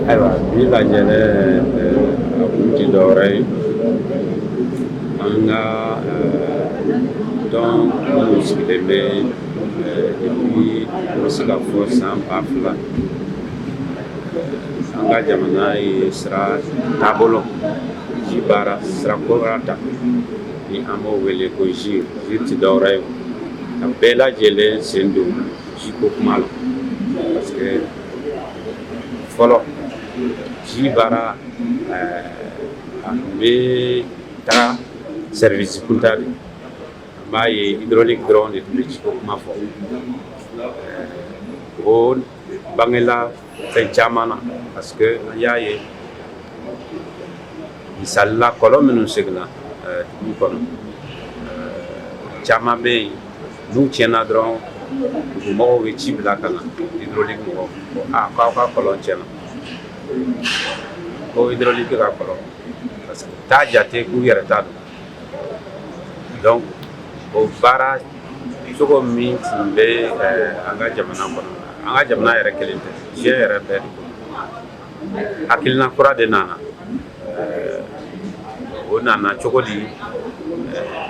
ayiwa bi lajɛlɛ a kun ti dɔwɛrɛ ye an ka tɔn minnu sigilen bɛ depuis n bɛ se ka fɔ san ba fila an ka jamana ye sira taabolo ji baara sira kura ta ni an b'o wele ko GIRE GIRE tɛ dɔwɛrɛ ye ka bɛɛ lajɛlen sen don ji ko kuma la parce que fɔlɔ ji baara eh, a tun bɛ taa service kunda de an b'a ye hydraulique dɔrɔn de tun bɛ ji ko kuma fɔ eh, o bangela fɛn caman na parce que an y'a ye misalila kɔlɔn minnu seginna eh, dugu kɔnɔ eh, caman bɛ yen n'u tiɲɛna dɔrɔn dugumɔgɔw bɛ ci bila ka na hydraulique mɔgɔw ko a ah, k'aw ka kɔlɔn tiɲɛna ko hydraulique ka kɔlɔn parce que u t'a jate k'u yɛrɛ ta don donc o baara cogo min tun bɛ an ka jamana kɔnɔ an ka jamana yɛrɛ kelen tɛ diɲɛ yɛrɛ bɛɛ de kɔnɔ hakilina kura de nana o nana cogo di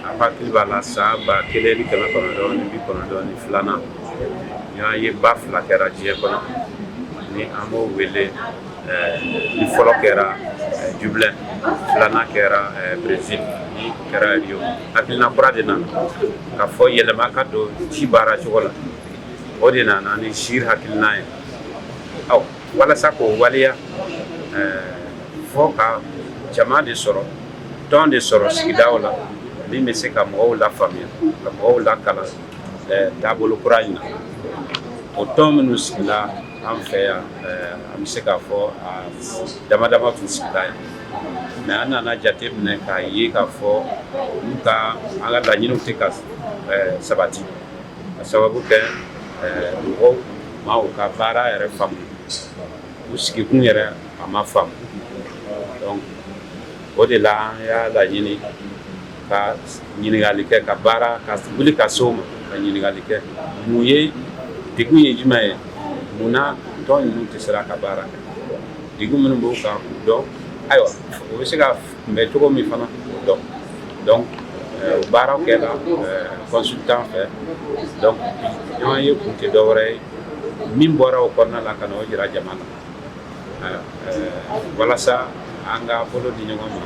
a hakili b'a la san ba kelen ni kɛmɛ kɔnɔntɔn ni bi kɔnɔntɔn ni filanan ɲɔgɔnyeba fila kɛra diɲɛ kɔnɔ ni an b'o wele ni fɔlɔ kɛra Dublin filanan kɛra Brésil ni kɛra rio hakilina kura de nana ka fɔ yɛlɛma ka don ji baara cogo la o de nana ni GIRE hakilina ye aw walasa k'o waleya fo ka jama de sɔrɔ tɔn de sɔrɔ sigidaw la min bɛ se ka mɔgɔw lafaamuya ka mɔgɔw lakalan taabolo kura in na o tɔn minnu sigila An fɛ yan an bɛ se k'a fɔ damadama tun sigila yan mais an nana jate minɛ k'a ye k'a fɔ ka an ka laɲiniw tɛ ka sabati k'a sababu kɛ mɔgɔw ma u ka baara yɛrɛ faamu u sigikun yɛrɛ a ma faamu donc o de la an y'a laɲini ka ɲininkali kɛ ka baara ka wuli ka s'o ma ka ɲininkali kɛ mun ye degun ye jumɛn ye mun na tɔn ninnu tɛ sera ka baara kɛ degun minnu b'u kan k'u dɔn ayiwa o bɛ se ka kunbɛn cogo min fana k'o dɔn donc euh, o baaraw kɛra euh, consultant fɛ donc ɲɔgɔnye kun tɛ dɔwɛrɛ ye min bɔra o kɔnɔna la ka na o jira jama na euh, walasa an ka bolo di ɲɔgɔn ma